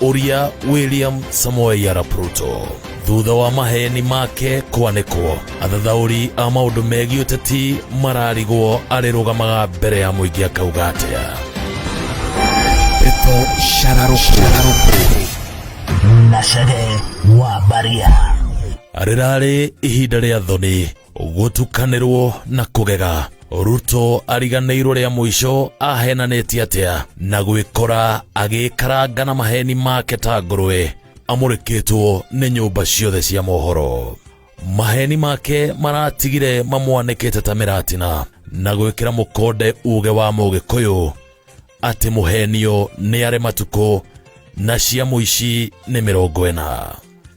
ũria william samoei arap ruto thutha wa maheni make kwanĩkwo athathaũri a maũndũ megiĩ ũteti mararigwo arĩrũgamaga mbere ya mũingĩ akauga atĩa Ndeto shararũkũ na cege wa baria rĩrarĩ ihinda rĩa thoni gũtukanĩrwo na kũgega ruto ariganĩirwo rĩa mũico ahenanĩtie atĩa na gwĩkora agĩkaranga na maheni make ta ngũrũwe amũrĩkĩtwo nĩ nyũmba ciothe cia mohoro maheni make maratigire mamwanĩkĩte ta mĩratina na gwĩkĩra mũkonde uge wa mũgĩkũyũ atĩ mũhenio nĩ arĩ matukũ na cia mũici nĩ mĩrongo ĩna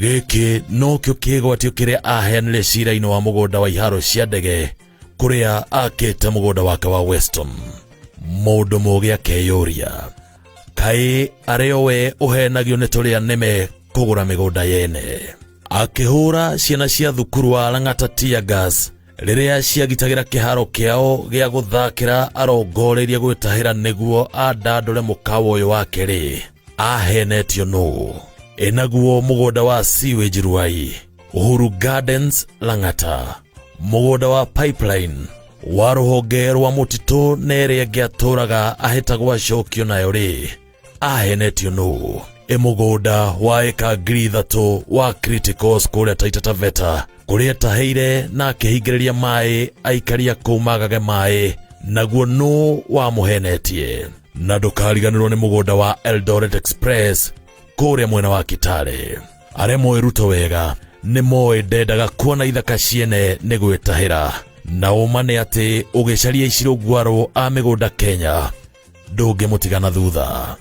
gĩkĩ nokĩo kĩgwatio kĩrĩa aheanire cira-inĩ wa mũgũnda wa iharo cia ndege kũrĩa akĩte mũgũnda wake wa weston mũndũ mũgĩ akeyũria kaĩ arĩ o we ũhenagio nĩ tũrĩa nĩme kũgũra mĩgũnda yene akĩhũra ciana cia thukuru wa lang'ata teargas rĩrĩa ciagitagĩra kĩharo kĩao gĩa gũthakĩra arongoreirie gwĩtahĩra nĩguo andandũre mũkawa ũyũ wake-rĩ ahenetio nũ enaguo mũgũnda wa sewage ruai uhuru gardens lang'ata mũgũnda wa pipeline wa rũhonge rwa mũtitũ na ĩrĩa ĩngĩ atũraga ahĩtagwo acokio nayo-rĩ ahenetio nũ ĩ mũgũnda wa ĩka ngiri ithatũ wa criticals kũrĩa taita taveta kũrĩa etaheire na akĩhingĩrĩria maĩ aikaria kũu magage maĩ naguo nũ wamũhenetie na ndũkariganĩrwo nĩ mũgũnda wa eldoret express kũrĩa mwena wa kitale arĩa moĩ ruto wega nĩ moĩ ndendaga kuona ithaka ciene nĩ gwĩtahĩra na ũma nĩ atĩ ũgĩcaria icirũngwarũ a mĩgũnda kenya ndũngĩmũtiga na thutha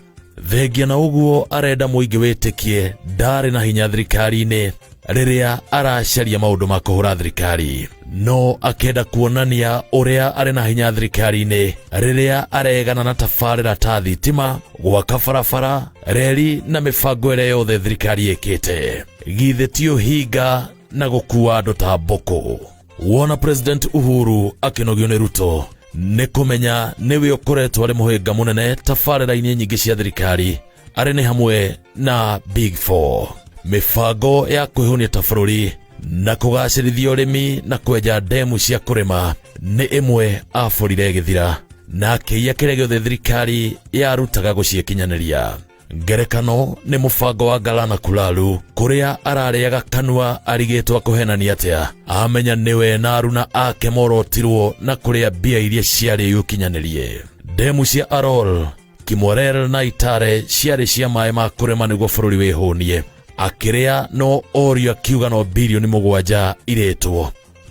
thengia na ũguo arenda mũingĩ wĩtĩkie ndarĩ na hinya thirikari-inĩ rĩrĩa aracaria maũndũ ma kũhũra thirikari no akenda kuonania ũrĩa arĩ na hinya thirikari-inĩ rĩrĩa aregana na tabarĩra ta thitima gwaka barabara reri na mĩbango ĩrĩa yothe thirikari ĩkĩte githĩ ti ũhinga na gũkua andũ ta mbũkũ wona president uhuru akinogio ni ruto nĩ kũmenya nĩwe ũkoretwo arĩ mũhĩnga mũnene tabarĩra-inĩ nyingĩ cia thirikari arĩ nĩ hamwe na big 4 mĩbango ya kwĩhũnia ta bũrũri na kũgacĩrithia ũrĩmi na kwenja ndemu cia kũrĩma nĩ ĩmwe abũrire gĩthira na akĩiya kĩrĩa gĩothe thirikari yarutaga gũciĩkinyanĩria ngerekano nĩ mũbango wa ngalana kulalu kũrĩa ararĩaga kanua arigĩtwo kũhenania atĩa amenya nĩwe na aruna ake morotirwo na kũrĩa mbia iria ciarĩ gũkinyanĩrie ndemu cia arol kimorel na itare ciarĩ cia maĩ ma kũrĩma nĩguo bũrũri wĩhũnie akĩrĩa no orio akiuga no bilioni mũgwanja irĩtwo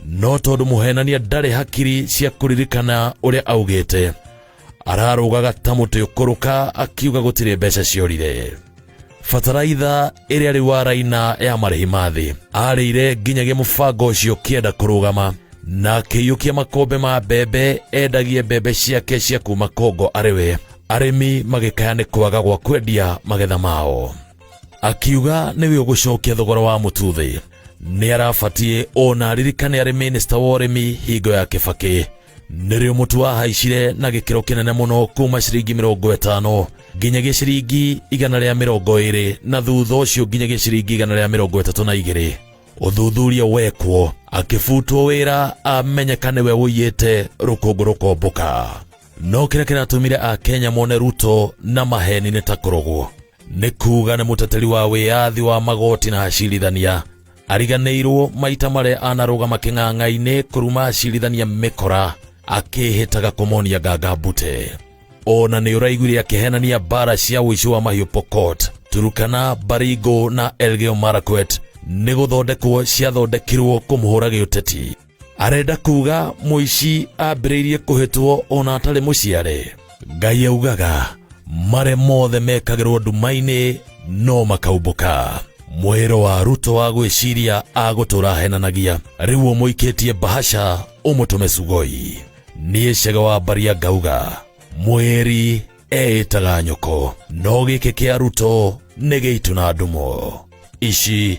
no tondũ mũhenania ndarĩ hakiri cia kũririkana ũrĩa augĩte ararũgaga ta mũtĩ ũkũrũka akiuga gũtirĩ mbeca ciorire bataraitha ĩrĩa rĩu araina ya marĩhi ma thĩ arĩire nginyagia mũbango ũcio ũkĩenda kũrũgama na akĩiyũkia makũmbĩ ma mbembe endagie mbembe ciake cia kuma kongo arĩ we arĩmi magĩkaya nĩ kwaga gwa kwendia magetha mao akiuga nĩwe ũgũcokia thogora wa mũtu thĩ nĩ arabatiĩ ona aririkane arĩ mĩnĩsta wa ũrĩmi hingo ya kĩbakĩ nĩrĩo mũtu wahaicire na gĩkĩro kĩnene mũno kuma ciringi mĩrongo ĩtano nginyagia ciringi igana rĩa mĩrongo ĩrĩ na thutha ũcio nginyagia ciringi igana rĩa mĩrongo ĩtatũ na igĩrĩ ũthuthuria wekwo akĩbutwo wĩra amenyeka nĩwe ũiyĩte rũkũngũ rũkombũka no kĩrĩa kĩratũmire akenya mone ruto na maheni nĩ ta kũrogwo nĩ kuga nĩ mũteteri wa wĩyathi wa magoti na acirithania ariganĩirwo maita marĩa anarũgama kĩng'ang'a-inĩ kũruma acirithania mĩkora akĩhĩtaga kũmonia nganga mbute ona nĩ ũraiguire akĩhenania mbara cia ũici wa mahiũ pokot turukana baringo na elgeo marakwet nĩ gũthondekwo ciathondekirwo kũmũhũra gĩũteti arenda kuga mũici ambĩrĩirie kũhĩtwo ona atarĩ mũciare ngai augaga marĩa mothe mekagĩrwo nduma-inĩ no makaumbũka mwĩro wa ruto wa gwĩciria agũtũra henanagia rĩu ũmũikĩtie bahasha ũmũtũme sugoi niĩ cega wa mbaria ngauga mwĩri eĩtaga nyoko no gĩkĩ kĩa ruto nĩ gĩitũ na ndumo ici